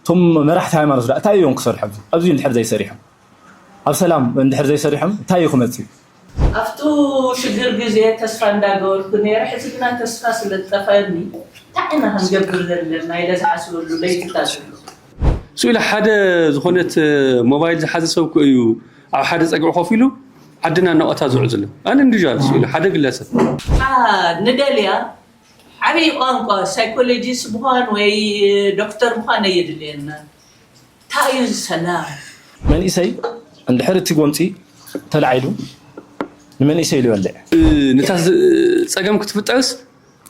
እቶም መራሕቲ ሃይማኖት ድኣ እንታይ እዮም ክሰርሑ ኣብዚ ኣብዚ እንድሕር ዘይሰሪሖም ኣብ ሰላም እንድሕር ዘይሰሪሖም እንታይ እዩ ክመጽእ። ኣብቱ ሽግር ግዜ ተስፋ እንዳገበርኩ ኔረ ሕዚ ግና ተስፋ ስለ ዝጠፈኣኒ ታይ ኢና ክንገብር ዘለና ኢለ ዝሓስበሉ ለይትታት ኣሎ። ስኢላ ሓደ ዝኾነት ሞባይል ዝሓዘ ሰብ እኮ እዩ ኣብ ሓደ ጸግዒ ኮፍ ኢሉ ዓድና እናቆታ ዝውዕል ዘሎ ኣን ኢንዲቪጃል ስኢላ ሓደ ግለሰብ። ንደልያ ዓብይ ቋንቋ ሳይኮሎጂስት ምዃን ወይ ዶክተር ምዃን ኣየድልየናን። ታይ እዩ እዚ ሰላም? መንእሰይ እንድሕር እቲ ጎንፂ ተላዒሉ ንመንእሰይ ኢሉ ይበልዕ። ነታ ፀገም ክትፍጠርስ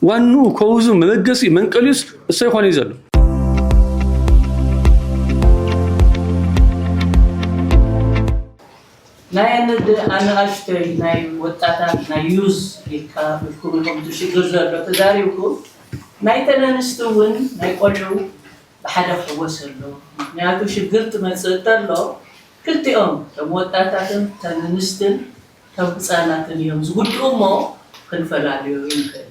ዋንኡ፣ ኮውዙ፣ መበገሲኡ፣ መንቀሊኡስ እሶይ ኾነይ ዘሎ። ናይ ኣናኣሽቶይ ናይ ወጣታት ናይ ዩዝ ኢልካ ኢልኩም ኢኹም እቲ ሽግር ዘሎ ተዛሪብኩም ናይተን ኣንስቲ እውን ናይ ቆልዑ ብሓደ ክሕወስ ኣለዎ ምኽንያቱ ሽግር ክመፅእ ተሎ ክልቲኦም እቶም ወጣታትን እተን ኣንስትን እቶም ህፃናትን እዮም ዝጉድኡ እሞ ክንፈላልዮ ኣይንኽእልን።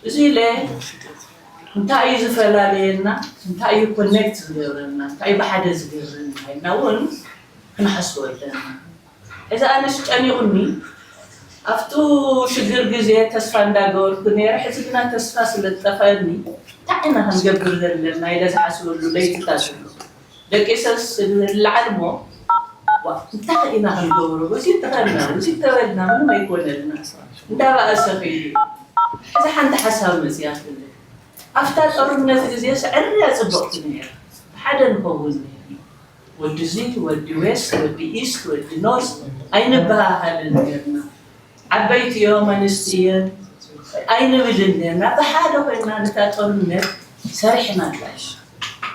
እዚ ኢለ እንታይ እዩ ዝፈላልየና እንታይ እዩ ኮኔክት ዝገብረና እንታይ እዩ ብሓደ ዝገብረና ኢልና እውን ክንሓስቦ ኣለና ሕዚ ኣነ ስጨኒቑኒ ኣብቱ ሽግር ግዜ ተስፋ እንዳገበርኩ ነይረ ሕዚ ግና ተስፋ ስለዝጠፈኣኒ እንታይ ኢና ክንገብር ዘለና ኢለ ዝሓስበሉ ለይትታት ኣሎ ደቂሰስ ንላዓል እሞ ዋእ እንታይ ኢና ክንገብሮ ውጺት ተኸልና ውጺት ተበልና ምንም ኣይኮነልና እንዳባእሰ ከይዱ እዩ ሕዚ ሓንቲ ሓሳብ መጺኣትኒ ኣፍታ ጦርነት ግዜስ ዕርያ ጽብቕቲ ነይራ ብሓደ ንኸውን ነይርና ወዲ ዚት ወዲ ዌስት ወዲ ኢስት ወዲ ኖርዝ ኣይንበሃሃልን ነይርና ዓበይቲዮ መንእስቲዮ ኣይንብልን ኔርና ብሓደ ኮይንና ነታ ጦርነት ሰሪሕና ጥራይስ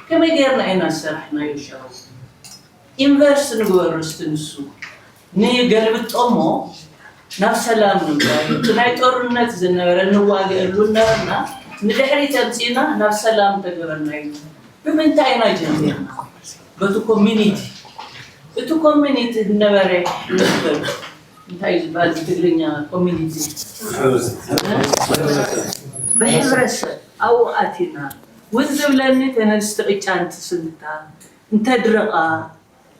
ከመይ ጌርና ኢና ዝሰራሕናዮ ሻቡ ኢንቨርስ ንግበሮ እስቲ ንሱ ንገልብጦሞ ናብ ሰላም ንምጻእ እቲ ናይ ጦርነት ዝነበረ ንዋገኣሉ እናበልና ንድሕሪት ኣምጺእና ናብ ሰላም ተግብረናዮ ብምንታይ ኢና ጀሚርና በቲ ኮሚኒቲ እቲ ኮሚኒቲ ዝነበረ ንበል እንታይ እዩ ዝበሃል ብትግርኛ ኮሚኒቲ ብሕብረተሰብ ኣብኡ ኣቲና ውን ዝብለኒ ተነስቲ ቅጫ እንትስንክታ እንተድረቃ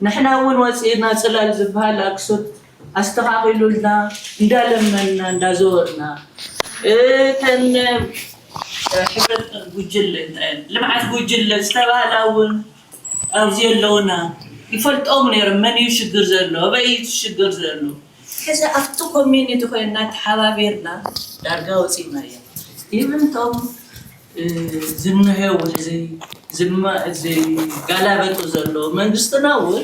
ንሕና ውን ወፂእና ፅላል ዝበሃል ኣክሱት ኣስተኻኺሉልና እንዳለመንና እንዳዘወርና እተን ሕብረት ጉጅለ እንታይ ልምዓት ጉጅለ ዝተባህላ ውን ኣብዚ ኣለውና ይፈልጦም ነይሮም መን እዩ ሽግር ዘሎ ኣበይ እዩ እቲ ሽግር ዘሎ ሕዚ ኣብቲ ኮሚኒቲ ኮይና ተሓባቢርና ዳርጋ ወፂእናያ ኢቭን እቶም ዝንሄው ሕዚ ዝጋላበጡ ዘለዉ መንግስትና እውን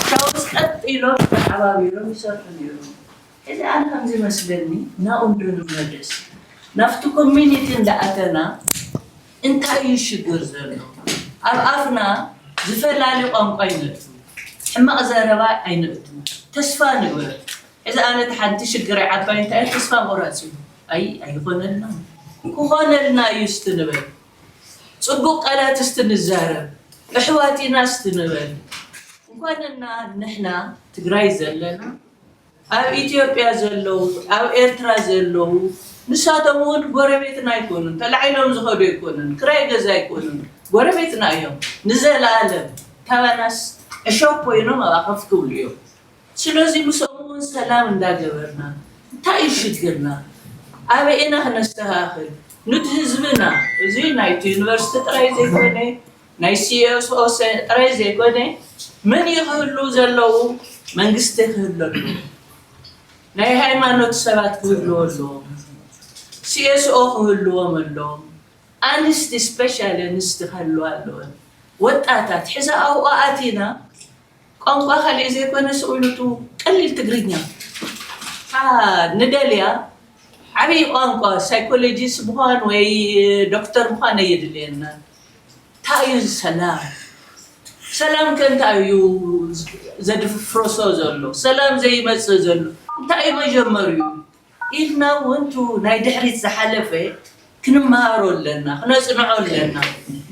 እታ ውስጥ ቀጥ ኢሎም ተሓባቢሮም ይሰርሑ ነይሮም። ሕዚ ኣነ ከምዝመስለኒ ናብኡ እንዶ ንመለስ ናብቲ ኮሚኒቲ እንዳኣተና እንታይ እዩ ሽግር ዘሎ ኣብ ኣፍና ዝፈላሊ ቋንቋ ኣይነእቱ ሕማቅ ዘረባ ኣይነእቱ ተስፋ ንበር ሕዚ ኣነ እቲ ሓንቲ ሽግረይ ዓባይ እንታይ እያ ተስፋ ምቁራጽ እዩ ኣይ ኣይኾነልናን ክኾነልና እዩ እስቲ ንበል ጽቡቅ ቃላት እስቲ ንዛረብ እሕዋት ኢና እስቲ ንበል እንኳንና ንሕና ትግራይ ዘለና ኣብ ኢትዮጵያ ዘለዉ ኣብ ኤርትራ ዘለዉ ንሳቶም ዉን ጎረቤትና ኣይኮኑን ተላዒሎም ዝኸዱ ኣይኮኑን ክራይ ገዛ ኣይኮኑን ጎረቤትና እዮም ንዘላኣለም ካባናስ ዕሾኽ ኮይኖም ኣብኣ ከፍ ክብሉ እዮም ስለዚ ምስኦም ዉን ሰላም እንዳገበርና እንታይ እዩ ሽግርና ኣበይ ኢና ክነስተካክል ኑቲ ህዝብና እዚ ናይቲ ዩኒቨርስቲ ጥራይ ዘይኮነ ናይ CSOs ጥራይ ዘይኮነ መን እዩ ክህልው ዘለው መንግስቲ ክህሉ ኣለዎ ናይ ሃይማኖት ሰባት ክህልዎ ኣለዎም CSO ክህልዎም ኣለዎም ኣንስቲ ስፔሻሊ ኣንስቲ ክህልዋ ኣለወን ወጣታት ሕዚ ኣብኡ ኣቲና ቋንቋ ካልእ ዘይኮነ ስእሉቱ ቀሊል ትግርኛ እታ ንደልያ ዓብይ ቋንቋ ሳይኮሎጂስት ምዃን ወይ ዶክተር ምዃን ኣየድልየናን ታይ እዩ እዚ ሰላም ሰላም ከ እንታይ እዩ ዘድፍፍርሶ ዘሎ ሰላም ዘይመፅእ ዘሎ እንታይ እዩ መጀመርይኡ ኢልና እውን እቱ ናይ ድሕሪት ዝሓለፈ ክንመሃሮ ኣለና፣ ክነፅንዖ ኣለና።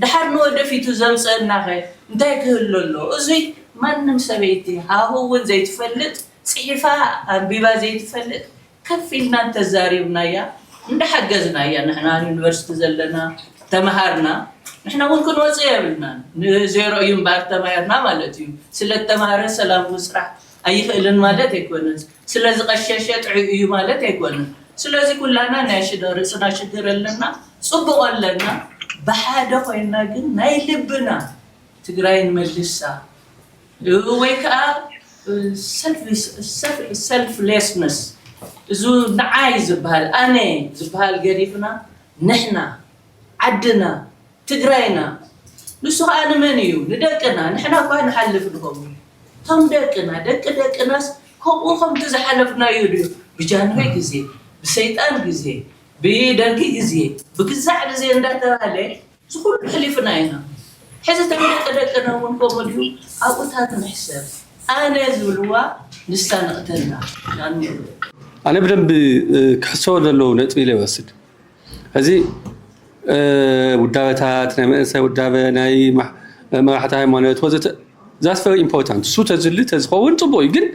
ደሓር ንወደፊቱ ዘምፀእናኸ እንታይ ክህሉ ኣለዎ? እዙይ ማንም ሰበይቲ ሃሁ እውን ዘይትፈልጥ፣ ፅሒፋ ኣንቢባ ዘይትፈልጥ ከፍ ኢልና እንተዛሪብናያ እንዳሓገዝናያ ንሕና ኣብ ዩኒቨርሲቲ ዘለና ተምሃርና ንሕና እውን ክንወፅእ የብልናን። ንዜሮ እዩ እምበኣር ተማሂርና ማለት እዩ። ስለእተምሃረ ሰላም ምስራሕ ኣይኽእልን ማለት ኣይኮነን። ስለ ዝቀሸሸ ጥዑይ እዩ ማለት ኣይኮነን ስለዚ ኩላና ናይ ሽዶ ርእስና ሽግር ኣለና ጽቡቅ ኣለና ብሓደ ኮይና ግን ናይ ልብና ትግራይ ንመልሳ ወይ ከኣ ሰልፍ ሌስነስ እዙ ንዓይ ዝበሃል ኣነ ዝበሃል ገዲፍና ንሕና ዓድና ትግራይና ንሱ ኸኣ ንመን እዩ ንደቅና ንሕና እኳ ንሓልፍ ንኸውን እቶም ደቅና ደቂ ደቅናስ ከምኡ ከምቲ ዝሓለፍናዮ ድዩ ብጃንሆይ ግዜ ብሰይጣን ግዜ ብደርጊ ግዜ ብግዛዕ ግዜ እንዳተባህለ ዝኹሉ ኣሕሊፍና ኢና ሕዚ እቶም ደቂ ደቅና እውን ከምኡ ድዩ ኣብኡ እታ ትምሕሰብ ኣነ ዝብልዋ ንሳ ንቕተላ ኣነ ብደንቢ ክሕሰቦ ዘለዎ ነጥቢ ኢለ ይወስድ። እዚ ውዳበታት ናይ መንእሰይ ውዳበ ናይ መራሕቲ ሃይማኖት ወዘተ ዛስ ቨሪ ኢምፖርታንት እሱ ተዝሊ ተዝኸውን ፅቡቅ እዩ ግን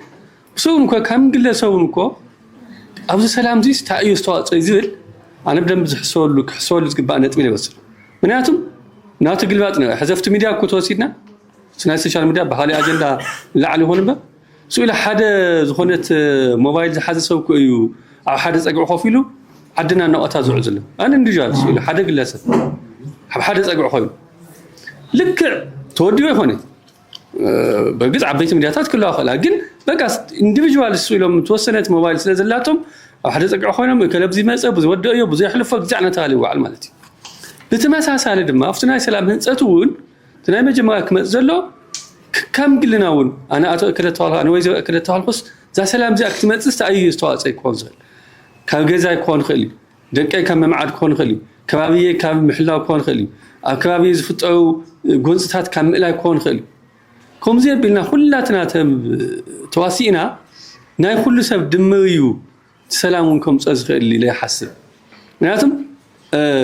ብሰውን እኮ ከም ግለሰውን እኮ ኣብዚ ሰላም ዚስ እንታይ እዩ ዝተዋፅኦ ዝብል ኣነ ብደንብ ዝሕሰበሉ ክሕሰበሉ ዝግባእ ነጥቢ ኢለ ይወስድ ምክንያቱም ናቱ ግልባጥ ነ ሕዘፍቲ ሚድያ እኮ ተወሲድና ናይ ሶሻል ሚድያ ብካሊእ ኣጀንዳ ላዕሊ ይኹን እምበር ስኢሉ ሓደ ዝኾነት ሞባይል ዝሓዘ ሰብ እኮ እዩ ኣብ ሓደ ጸግዒ ኮፍ ኢሉ ዓድና ነቐታ ዝውዕል ዘሎ ኣን ኢንዲቪዥዋል ስኢሉ ሓደ ግለሰብ ኣብ ሓደ ጸግዒ ኮይኑ ልክዕ ተወዲቦ ይኾነ በርግጽ ዓበይቲ ሚዲያታት ክለዋ ክእላ ግን በቃ ኢንዲቪዥዋል እሱ ኢሎም ተወሰነት ሞባይል ስለ ዘላቶም ኣብ ሓደ ጸግዒ ኮይኖም እከለ ብዙ ይመጸ ብዙ ወደኦ ብዙ የሕልፎ ግዛዕ እናተባሃለ ይወዓል ማለት እዩ ብተመሳሳሊ ድማ ኣብቲ ናይ ሰላም ህንፀት እውን እቲ ናይ መጀመርያ ክመጽእ ዘሎ ከም ግልና እውን ኣነ ኣቶ እከለ ተባልኩ ኣነ ወይዘሮ እከለ ተባልኩስ እዛ ሰላም እዚኣ ክትመጽእ እንታይ እዩ ዝተዋፅኦ ክኸውን ዝኽእል ካብ ገዛይ ክኾን ይኽእል እዩ ደቀይ ካብ ምምዓድ ክኾን ይኽእል እዩ ከባቢየ ካብ ምሕላው ክኾን ይኽእል እዩ ኣብ ከባቢ ዝፍጠሩ ጎንፅታት ካብ ምእላይ ክኾን ይኽእል እዩ ከምዚ ኣቢልና ኩላትና ተዋሲእና ናይ ኩሉ ሰብ ድምር እዩ ሰላም እውን ከምፀኦ ዝኽእል ኢለ ይሓስብ ምክንያቱም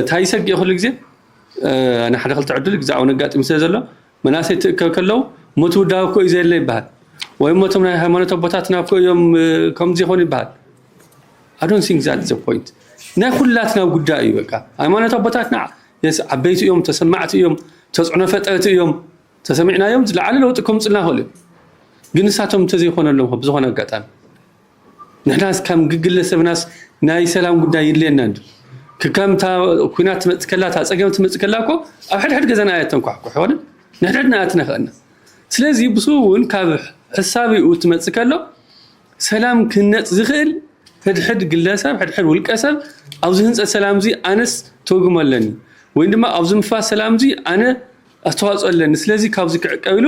እንታይ ይሰግእ ኩሉ ግዜ ናይ ሓደ ክልተ ዕድል ግዛዕ እውን ኣጋጢሙ ስለ ዘሎ መናእሰይ ትእከብ ከለው ሞት ውዳብ እኮ እዩ ዘየለ ይበሃል ወይ ሞቶም ናይ ሃይማኖት ኣቦታትና እኮ እዮም ከምዚ ይኾኑ ይበሃል ኣዶን ሲንግ ዛት ዘ ፖይንት ናይ ኩላትና ጉዳይ እዩ በቃ ሃይማኖት ኣቦታትና የስ ዓበይቲ እዮም ተሰማዕቲ እዮም ተፅዕኖ ፈጠርቲ እዮም ተሰሚዕናዮም ዝለዓለ ለውጢ ከምፅልና ክእሉ እዩ ግን ንሳቶም እንተዘይኮነሎም ብዝኾነ ኣጋጣሚ ንሕናስ ከም ግግለ ሰብናስ ናይ ሰላም ጉዳይ ይድልየና እንድዩ ክከም እታ ኩናት ትመጽእ ከላ እታ ጸገም ትመጽእ ከላ እኮ ኣብ ሕድሕድ ገዛና እያ ተንኳሕኩሕ ሆነ ንሕድሕድና እያ ትነኸአና ስለዚ ብሱ እውን ካብ ሕሳቢኡ ትመጽእ ከሎ ሰላም ክህነጽ ዝኽእል ሕድሕድ ግለሰብ ሕድሕድ ውልቀ ሰብ ኣብዚ ህንጸት ሰላም እዚ ኣነስ ተውግሞ ኣለኒ ወይ ድማ ኣብዚ ምፍራስ ሰላም እዚ ኣነ ኣስተዋጽኦ ኣለኒ ስለዚ ካብዚ ክዕቀብ ኢሉ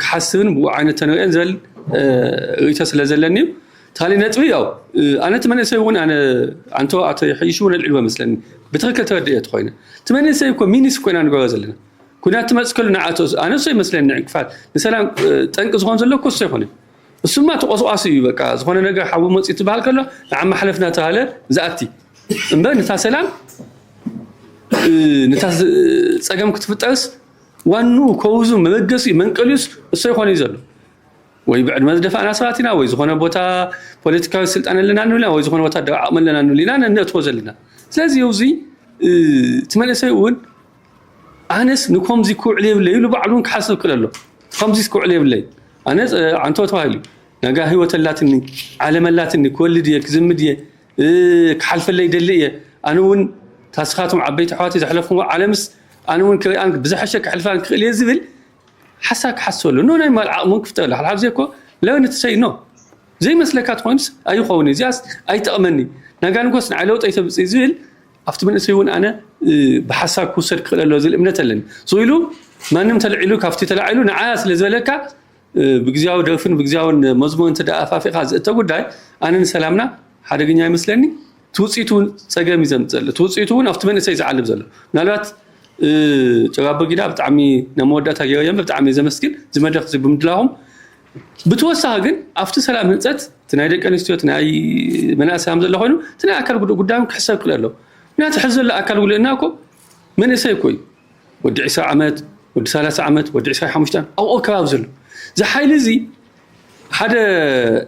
ክሓስብን ብኡ ዓይነት ተንርእን ዝብል ርእይቶ ስለ ዘለኒ እዩ። ታሊ ነጥቢ ያው ኣነ እቲ መንእሰይ እውን ኣነ ኣንቶ ኣቶ ይሐይሽ እውን ኣልዒልዎ መስለኒ ብትክክል ተረድኤ ተኮይነ እቲ መንእሰይ እኮ ሚኒስ ኮይና ንገሮ ዘለና ኩናት ትመፅከሉ ንዓቶ ኣነ እሶ ይመስለኒ ዕንቅፋት ንሰላም ጠንቂ ዝኮን ዘሎ እኮ እሶ ይኮነ እሱማ ተቆስቋሲ እዩ በቃ ዝኮነ ነገር ሓዊ መፅኡ ትበሃል ከሎ ንዓ ማሕለፍና ተባሃለ ዝኣቲ እምበር ንታ ሰላም ንታ ፀገም ክትፍጠርስ ዋንኡ ከውዙ መበገሲኡ መንቀሊኡስ እሶይ ኮነይ ዘሎ ወይ ብዕድመ ዝደፋእና ሰባት ኢና ወይ ዝኾነ ቦታ ፖለቲካዊ ስልጣን ኣለና ንብልና ወይ ዝኾነ ወታደራዊ ዓቕሚ ኣለና ንብልና ነእትዎ ዘለና ስለዚ እዚ እቲ መንእሰይ እውን ኣነስ ንከምዚ ክውዕል የብለይ ኢሉ ባዕሉ እውን ክሓስብ ክል ኣሎ ከምዚስ ክውዕል የብለይ ኣነ ዓንቶ ተባሂሉ ነጋ ህይወት ኣላትኒ ዓለም ኣላትኒ ክወልድ እየ ክዝምድ እየ ክሓልፈለይ ይደሊ እየ ኣነ እውን ታስኻቶም ዓበይቲ ኣሕዋተይ ዘሕለፍዎ ዓለምስ ኣነ እውን ክሪኣን ብዝሐሸ ክሕልፋን ክኽእል እየ ዝብል ሓሳብ ክሓስበሉ ኖ ናይ ማል ዓቕሙ ክፍጠረሉ ሓልሓብ ዘይኮ ለበን ትሰይ ኖ ዘይመስለካ ትኾይኑስ ኣይኸውን እዚኣስ ኣይጠቕመኒ ናጋንጎስ ንዓይ ለውጠይ ተምፅእ ዝብል ኣብቲ መንእሰይ እውን ኣነ ብሓሳብ ክውሰድ ክኽእል ኣለዎ ዝብል እምነት ኣለኒ ስኢሉ ማንም ተልዒሉ ካብቲ ተላዒሉ ንዓያ ስለ ዝበለካ ብግዝያዊ ደርፍን ብግዝያዊን መዝሙር እንተ ኣፋፊኻ ዝእተ ጉዳይ ኣነ ንሰላምና ሓደገኛ ይመስለኒ እቲ ውፅኢቱ እውን ፀገም እዩ ዘምፅእ ዘሎ እቲ ውፅኢቱ እውን ኣብቲ መንእሰይ ዝዓልብ ዘሎ ምናልባት ጭራ ኣቦጊዳ ብጣዕሚ ናብ መወዳእታ ገይረ እየ ብጣዕሚ እየ ዘመስግን እዚ መድረክ እዚ ብምድላኹም ብተወሳኺ ግን ኣብቲ ሰላም ህንፀት እቲ ናይ ደቂ ኣንስትዮ እቲ ናይ መናእሰይ ከም ዘሎ ኮይኑ እቲ ናይ ኣካል ጉዱእ ጉዳዮም ክሕሰብ ክል ኣሎ ምክንያቱ ሕዚ ዘሎ ኣካል ጉድእና እኮ መንእሰይ እኮ እዩ ወዲ ዕስራ ዓመት፣ ወዲ ሰላሳ ዓመት፣ ወዲ ዕስራይ ሓሙሽተን ኣብኡ ኣከባቢ ዘሎ እዚ ሓይሊ እዚ ሓደ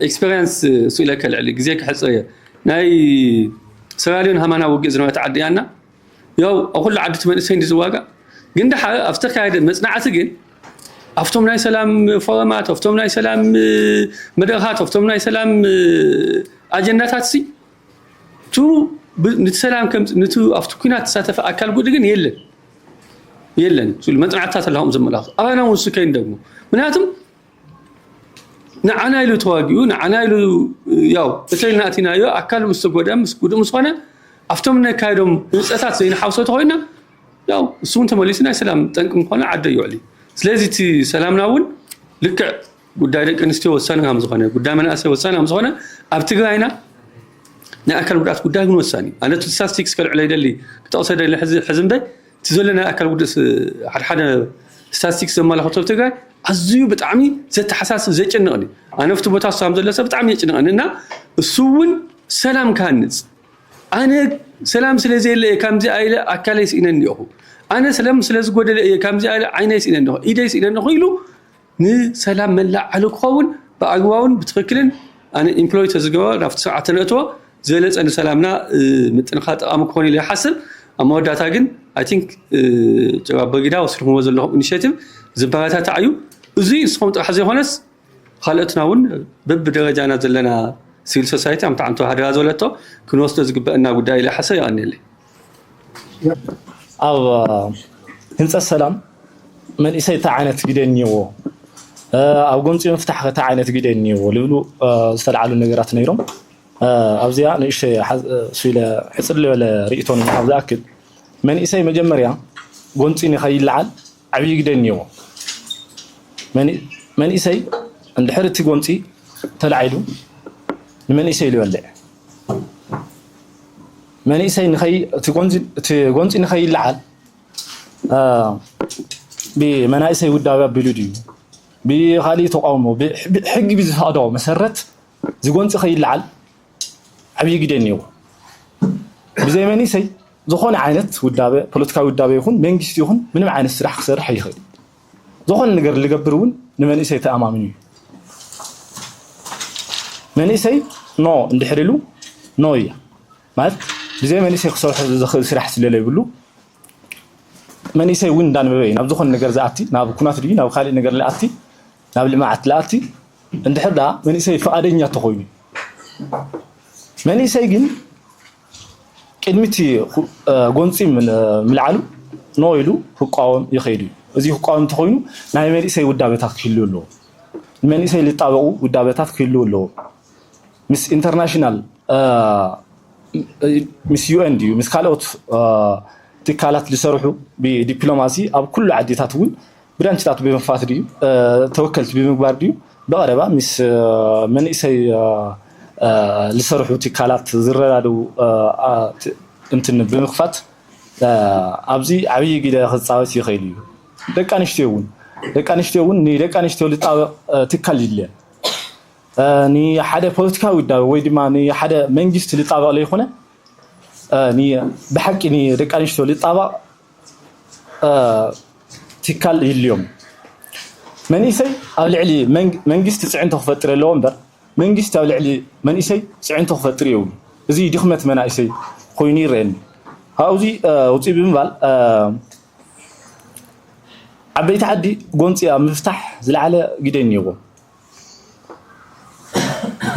ኤክስፐሪንስ ስኢለከ ልዕሊ ግዜ ክሕፅር እየ ናይ ሰራልዮን ሃማና ውግእ ዝነበረት ዓዲ እያና ያው ኣብ ኩሉ ዓዲ እቲ መንእሰይ እንዲ ዝዋጋእ ግን ድሓር ኣብ ዝተካየደ መፅናዕቲ ግን ኣብቶም ናይ ሰላም ፎረማት ኣብቶም ናይ ሰላም መድረኻት ኣብቶም ናይ ሰላም ኣጀንዳታት ሲ ቱሩ ንቲ ሰላም ከምፅ ንቲ ኣብቲ ኩናት ተሳተፈ ኣካል ጉድ ግን የለን የለን ሉ መፅናዕትታት ኣለኹም ዘመላኽቱ ኣባና እውን ሱ ከይንደግሞ ምክንያቱም ንዓና ኢሉ ተዋጊኡ ንዓና ኢሉ ያው እተይ ናእቲናዮ ኣካል ምስ ተጎድአ ምስ ጉድእ ምስ ኮነ ኣብቶም ነካየዶም ህንፀታት ዘይንሓውሶ ተኮይና ያው እሱ እውን ተመሊሱ ናይ ሰላም ጠንቂ ምኳኑ ዓደ ይውዕል እዩ ስለዚ እቲ ሰላምና እውን ልክዕ ጉዳይ ደቂ ኣንስትዮ ወሳኒ ከም ዝኾነ ጉዳይ መናእሰይ ወሳኒ ከም ዝኾነ ኣብ ትግራይና ናይ ኣካል ጉድኣት ጉዳይ እውን ወሳኒ እዩ ኣነ ስታስቲክስ ከልዕሎ ይደሊ ክጠቕሶ ደሊ ሕዚ እምበይ እቲ ዘሎ ናይ ኣካል ጉድስ ሓደሓደ ስታስቲክስ ዘመላኽቶ ኣብ ትግራይ ኣዝዩ ብጣዕሚ ዘተሓሳስብ ዘጨንቕን እዩ ኣነ ኣብቲ ቦታ እሱ ዘሎ ሰብ ብጣዕሚ የጭንቕን እና እሱ እውን ሰላም ክሃንፅ ኣነ ሰላም ስለ ዘየለ እየ ከምዚ ኣይለ ኣካለይ ስኢነኒ እኹ ኣነ ሰላም ስለ ዝጎደለ እየ ከምዚ ኣይለ ዓይነይ ስኢነኒ ኢደይ ስኢነኒ ኢሉ ንሰላም መላእ ዓለም ክኸውን ብኣግባቡን ብትኽክልን ኣነ ኢምፕሎይ ተዝገበር ናብቲ ስርዓት ተነእትዎ ዝበለፀ ንሰላምና ምጥንኻር ጠቓሚ ክኾን እዩ ኢለ ይሓስብ ኣብ መወዳእታ ግን ኣይ ቲንክ ጀባ ኣቦጊዳ ወሲድኹምዎ ዘለኹም ኢኒሼቲቭ ዝበረታታዕ እዩ እዙይ ንስኹም ጥራሕ ዘይኾነስ ካልኦትና እውን በብደረጃና ዘለና ሲቪል ሶሳይቲ ኣምታዓምቶ ሃደራ ዝበለቶ ክንወስዶ ዝግበአና ጉዳይ ኢለ ይሓስብ የቐንየለይ ኣብ ህንፀት ሰላም መንእሰይ እንታይ ዓይነት ግደ እኒዎ፣ ኣብ ጎንፂ ምፍታሕ እንታይ ዓይነት ግደ እኒዎ ልብሉ ዝተልዓሉ ነገራት ነይሮም። ኣብዚኣ ንእሽተይ ስኢለ ሕፅር ዝበለ ርእቶ ንምሃብ ዝኣክል መንእሰይ መጀመርያ ጎንፂ ንኸይለዓል ዓብዪ ግደ እኒዎ። መንእሰይ እንድሕር እቲ ጎንፂ ተላዒሉ ንመንእሰይ ይበልዕ መንእሰይ ንኸይ እቲ ጎንፂ እቲ ጎንፂ ንኸይለዓል ብመናእሰይ ውዳቤ ኣቢሉ ድዩ ብካሊእ ተቃውሞ ሕጊ ብዝፈቅዶ መሰረት ዝጎንፂ ከይለዓል ዓብዪ ግደ እኒዎ ብዘይ መንእሰይ ዝኾነ ዓይነት ውዳበ ፖለቲካዊ ውዳበ ይኹን መንግስቲ ይኹን ምንም ዓይነት ስራሕ ክሰርሕ ኣይኽእል ዝኾነ ነገር ልገብር እውን ንመንእሰይ ተኣማሚኑ እዩ። መንእሰይ ኖ እንድሕር ኢሉ ኖ እያ ማለት ብዘይ መንእሰይ ክሰርሑ ዝኽእል ስራሕ ስለለይብሉ መንእሰይ እውን እንዳንበበ እዩ ናብ ዝኾነ ነገር ዝኣቲ ናብ ኩናት ድዩ ናብ ካልእ ነገር ልኣቲ ናብ ልምዓት ልኣቲ እንድሕር ደኣ መንእሰይ ፍቓደኛ ተኾይኑ መንእሰይ ግን ቅድሚ እቲ ጎንፂ ምልዓሉ ኖ ኢሉ ክቋወም ይኽእል እዩ። እዚ ክቋወም እንተኾይኑ ናይ መንእሰይ ውዳበታት ክህልው ኣለዎ። ንመንእሰይ ዝጣበቑ ውዳበታት ክህልው ኣለዎ። ምስ ኢንተርናሽናል ምስ ዩኤን ድዩ ምስ ካልኦት ትካላት ዝሰርሑ ብዲፕሎማሲ ኣብ ኩሉ ዓዲታት እውን ብራንችታት ብምኽፋት ድዩ ተወከልቲ ብምግባር ድዩ ብቐረባ ምስ መንእሰይ ዝሰርሑ ትካላት ዝረዳድኡ እንትን ብምኽፋት ኣብዚ ዓብዪ ግደ ክፃወት ይኽእል እዩ። ደቂ ኣንስትዮ እውን ደቂ ኣንስትዮ እውን ንደቂ ኣንስትዮ ዝጣበቕ ትካል ይድልየን። ንሓደ ፖለቲካዊ ውዳበ ወይ ድማ ንሓደ መንግስቲ ዝጣበቕ ዘይኮነ ብሓቂ ንደቂ ኣንስትዮ ዝጣበቕ ትካል ይልዮም መንእሰይ ኣብ ልዕሊ መንግስቲ ፅዕንቶ ክፈጥር ኣለዎ እምበር መንግስቲ ኣብ ልዕሊ መንእሰይ ፅዕንቶ ክፈጥር የብሉ እዚ ድኽመት መናእሰይ ኮይኑ ይረአኒ ካብዚ ውፅእ ብምባል ዓበይቲ ዓዲ ጎንፂ ኣብ ምፍታሕ ዝለዓለ ግደ እኒኦዎም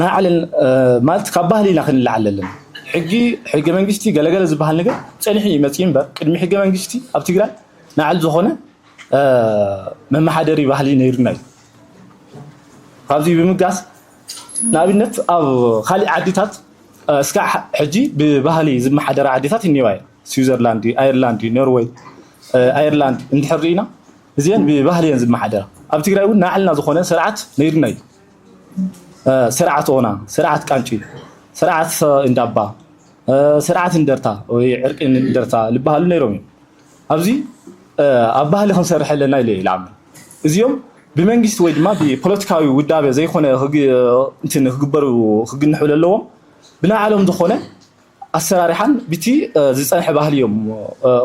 ናይ ዓለን ማለት ካብ ባህሊ ኢና ክንላዓል ዘለና ሕጂ ሕገ መንግስቲ ገለገለ ዝበሃል ነገር ጸኒሑ እዩ መጽዩ እምበር ቅድሚ ሕገ መንግስቲ ኣብ ትግራይ ናዕል ዝኾነ መመሓደሪ ባህሊ ነይሩና እዩ ካብዚ ብምጋስ ንኣብነት ኣብ ካሊእ ዓዲታት እስካ ሕጂ ብባህሊ ዝመሓደራ ዓዲታት እኒዋ እየ ስዊዘርላንድ ኣየርላንድ ኖርወይ ኣየርላንድ እንድሕር ርኢና እዚኤን ብባህሊ እየን ዝመሓደራ ኣብ ትግራይ እውን ናዕልና ዝኾነ ስርዓት ነይሩና እዩ ስርዓት ኦና ስርዓት ቃንጪ ስርዓት እንዳባ ስርዓት እንደርታ ወይ ዕርቂ እንደርታ ዝበሃሉ ነይሮም እዮም ኣብዚ ኣብ ባህሊ ክንሰርሕ ኣለና ኢለ ይልዓምን እዚኦም ብመንግስቲ ወይ ድማ ብፖለቲካዊ ውዳበ ዘይኮነ እንትን ክግበሩ ክግንሑ ዘለዎም ብናዕሎም ዝኾነ ኣሰራርሓን ብቲ ዝፀንሐ ባህሊ እዮም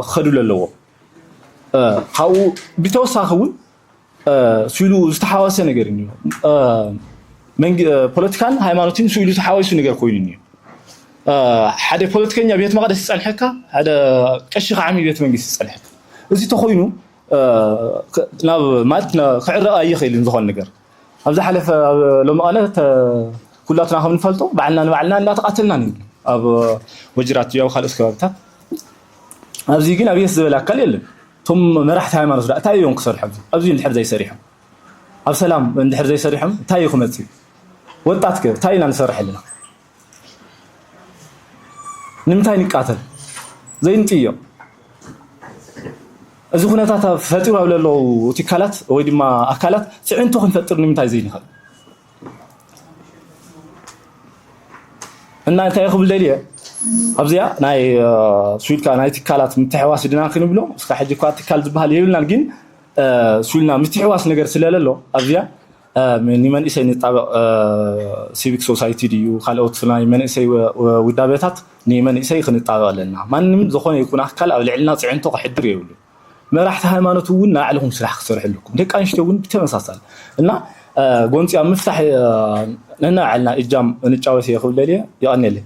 ክኸዱ ዘለዎም ካብኡ ብተወሳኺ እውን ስኢሉ ዝተሓዋወሰ ነገር እዩ ፖለቲካን ሃይማኖትን ስኢሉ ተሓዋዊሱ ነገር ኮይኑ እዩ ሓደ ፖለቲከኛ ቤት መቅደስ ይፀንሐካ ሓደ ቀሺ ከዓ ቤት መንግስቲ ይፀንሐካ እዚ ተኮይኑ ናብ ማለት ክዕረቕ ኣይኽእልን ዝኾን ነገር ኣብ ዝሓለፈ ሎሚ ቀነ ኩላትና ከም ንፈልጦ ባዕልና ንባዕልና እንዳተቃተልና ነይሩ ኣብ ወጅራት ያው ካልኦት ከባቢታት ኣብዚ ግን ኣብየት ዝበለ ኣካል የለን እቶም መራሕቲ ሃይማኖት ዳ እንታይ እዮም ክሰርሑ ኣብዚ እንድሕር ዘይሰሪሖም ኣብ ሰላም እንድሕር ዘይሰሪሖም እንታይ እዩ ክመፅእ ወጣት ከ እንታይ ኢና ንሰርሕ ኣለና ንምንታይ ንቃተል ዘይንጥዮ እዚ ኩነታት ፈጢሩ ኣብ ለለዉ ትካላት ወይ ድማ ኣካላት ፅዕንቶ ክንፈጥር ንምንታይ ዘይንኽእል እና እንታይ ክብል ደልየ ኣብዚኣ ናይ ስዊድካ ናይ ትካላት ምትሕዋስ ድና ክንብሎ እስካ ሕጂ እኳ ትካል ዝበሃል የብልናን ግን ስዊልና ምትሕዋስ ነገር ስለለሎ ኣብዚኣ ንመንእሰይ ንጣበቕ ሲቪክ ሶሳይቲ ድዩ ካልኦት ናይ መንእሰይ ውዳበታት ንመንእሰይ ክንጣበቕ ኣለና። ማንም ዝኾነ ይኹን ኣካል ኣብ ልዕልና ፅዕንቶ ከሕድር የብሉ። መራሕቲ ሃይማኖት እውን ናይ ባዕልኹም ስራሕ ክትሰርሑ ኣለኩም። ደቂ ኣንስትዮ እውን ብተመሳሳሊ እና ጎንፂ ኣብ ምፍታሕ ነናባዕልና እጃም እንጫወት እየ ክብል ደልየ። ይቐኒየለይ።